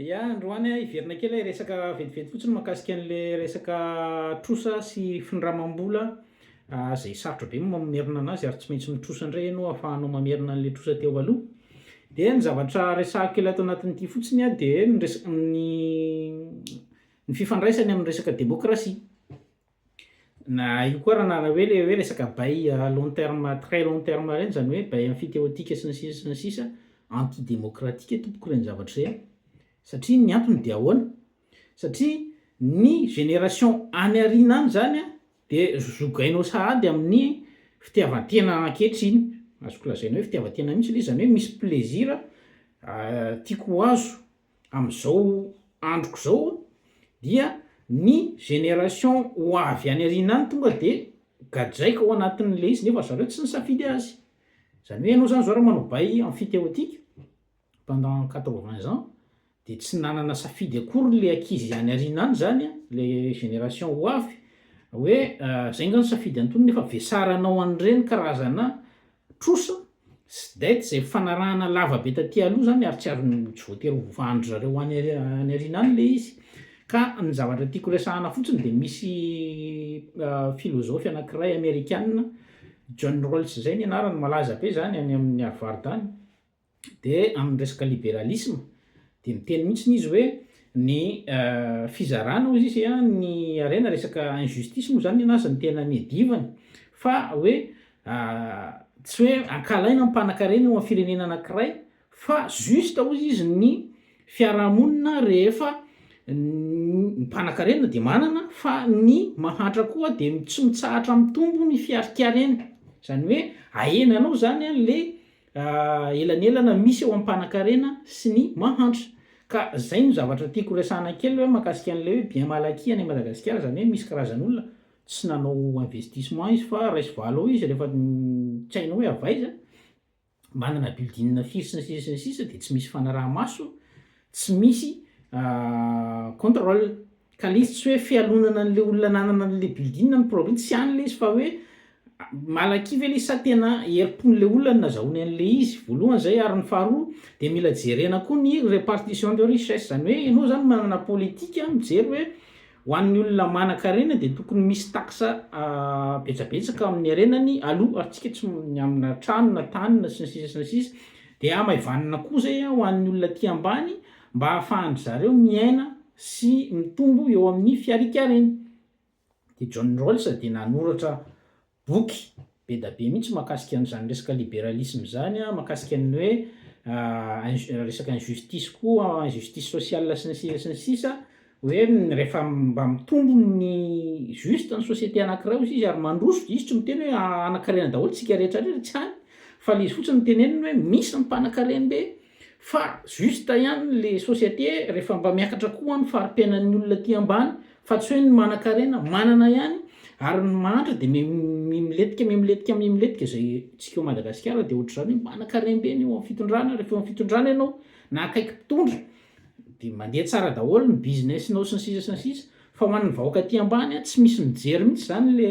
Ia, androany a, hiverina kely aho hiresaka vetivety fotsiny mahakasika an'ilay resaka trosa sy findramam-bola izay sarotra be ny mamerina an'azy ary tsy maintsy mitrosa indray ianao ahafahanao mamerina an'ilay trosa teo aloha. Dia ny zavatra resahiko kely ato anatin'ity fotsiny a dia ny resaka ny ny fifandraisany amin'ny resaka demokrasia. Na io koa raha nana hoe le hoe resaka bail à long terme très long terme ireny izany hoe bail emphytéotique sy ny sisa sy ny sisa, anti démocratique tompoko ireny zavatra ireny. Satria ny antony dia ahoana? Satria ny génération any aoriana any izany a dia zogainao sahady amin'ny fitiavan-tena ankehitriny, azoko lazaina hoe fitiavan-tena mihitsy le izy, izany hoe misy plaisir tiako ho azo amin'izao androko izao dia ny génération ho avy any aoriana any tonga dia gadraiko ao anatin'ilay izy nefa zareo tsy nisafidy azy. Izany hoe ianao izany izao raha manao bail emphytéotique pendant quatre vingts ans dia tsy nanana safidy akory ilay ankizy any aoriana any izany an, ilay génération ho avy hoe izay angaha no safidy an'itony nefa vesaranao an'ireny karazana Trosa sy dette izay fanarahana lava be taty aloha izany ary tsy ary tsy voatery ho vovahan-dry zareo any aoriana any ilay izy. Ka ny zavatra tiako resahana fotsiny dia misy filozofy anankiray amerikana John Rawls izay ny anarany malaza be izany any amin'ny arovaro-tany, Dia amin'ny resaka liberalisme dia miteny mihitsiny izy hoe ny fizarana hoy izy ny harena resaka injustice moa izany nenazy ny tena niadivany fa hoe tsy hoe ankalaina ny mpanankarena eo amin'ny firenena anankiray fa juste hoy izy ny fiarahamonina rehefa ny mpanankarena dia manana fa ny mahantra koa dia tsy mitsahatra mitombo ny fiarikareny izany hoe ahena anao izany an le Elanelana misy eo am panakarena sy ny mahantra. Ka zay no zavatra tiako resahana kely hoe makasika an'ilay hoe bien mal acquis any Madagasikara zany hoe misy karazan'olona tsy nanao investissement izy fa raiso valo eo izy rehefa tsy hainao hoe avaiza, manana building firy sy ny sisa sy ny sisa de tsy misy fanaraha-maso Tsy misy control. Ka le izy tsy hoe fialonana an'le olona nanana an'le building na ny propriété, tsy any le izy fa hoe malaky ve le izy sa tena herim-pon'le olona ny nazahoany an'le izy, voalohany zay ary ny faharoa de mila jerena koa ny répartition de richesse, zany hoe enao zany manana politika mijery hoe. Ho an'ny olona manan-karena dia tokony misy taxa betsabetsaka amin'ny harenany aloha ary tsika tsy ny amina trano na tany na sy ny sisa sy ny sisa dia hamaivanina koa zay a ho an'ny olona aty ambany mba hahafahan-dry zareo miaina sy mitombo eo amin'ny fiarikareny dia John Rawls dia nanoratra boky be da be mihitsy mahakasika an'izany resaka liberalisme izany an, mahakasika ny hoe resaka injustice koa, injustice sociale sy ny sisa sy ny sisa, hoe rehefa mba mitombo ny juste ny société anankiray hozy izy ary mandroso, izy tsy miteny hoe hanakarena daholo isika rehetra rehetra, tsy any, fa le izy fotsiny no teneniny hoe misy ny mpanankarem-be, Fa juste ihany le société refa mba miakatra koa ny faripiainan'ny olona aty ambany fa tsy hoe ny manankarena manana ihany ary ny mahantra de miletika miletika miletika izay tsika ao Madagasikara de ohatr'izany hoe manankarem-be ny eo amin'ny fitondrana refa eo amin'ny fitondrana ianao na akaiky mpitondra de mandeha tsara daholo ny business-nao sy ny sisa sy ny sisa fa ho an'ny vahoaka aty ambany tsy misy mijery mihitsy zany le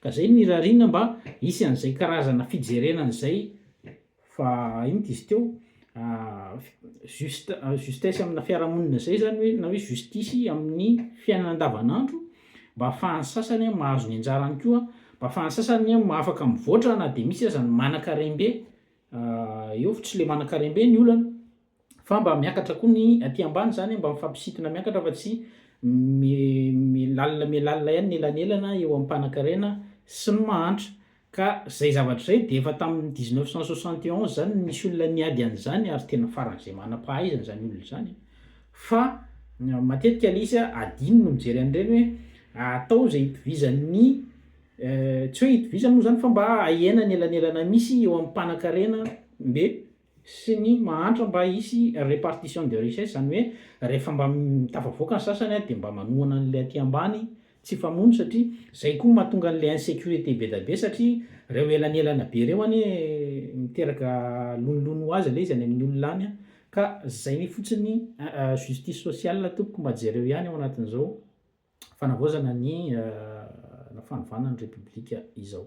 Ka zay no irariana mba hisy an'izay karazana fijerena an'izay fa inona izy teo juste justesse amina fiarahamonina zay zany hoe na hoe justice amin'ny fiainana andavanandro mba ahafahan'ny sasany mahazo ny anjarany koa mba ahafahan'ny sasany afaka mivoatra na de misy aza ny manakarem-be eo fa tsy le manakarem-be ny olana. fa mba miakatra koa ny aty ambany zany mba mifampisintona miakatra fa tsy milalina milalina ihany ny elanelana eo ampanankarena sy ny mahantra ka zay zavatra zay de efa tamin'ny dix neuf cent soixante et onze zany nisy olona niady an'izany ary tena faran'izay manam-pahaizana zany olona zany fa matetika le izy a adino no mijery an'ireny hoe atao zay itovizan'ny tsy hoe itovizany moa zany fa mba ahena ny elanelana misy eo ampanankarena de sy ny mahantra mba hisy repartition de richesse izany hoe rehefa mba tafavoaka ny sasany dia mba manohana an'ilay aty ambany tsy famono satria izay koa no mahatonga an'ilay insecurite be da be satria ireo elanelana be ireo anie miteraka lonilony ho azy ilay izy any amin'ny olona any ka izay mi fotsiny justice sociale tompoko mba jereo ihany ao anatin'izao fanavaozana ny fanovana ny repoblika izao.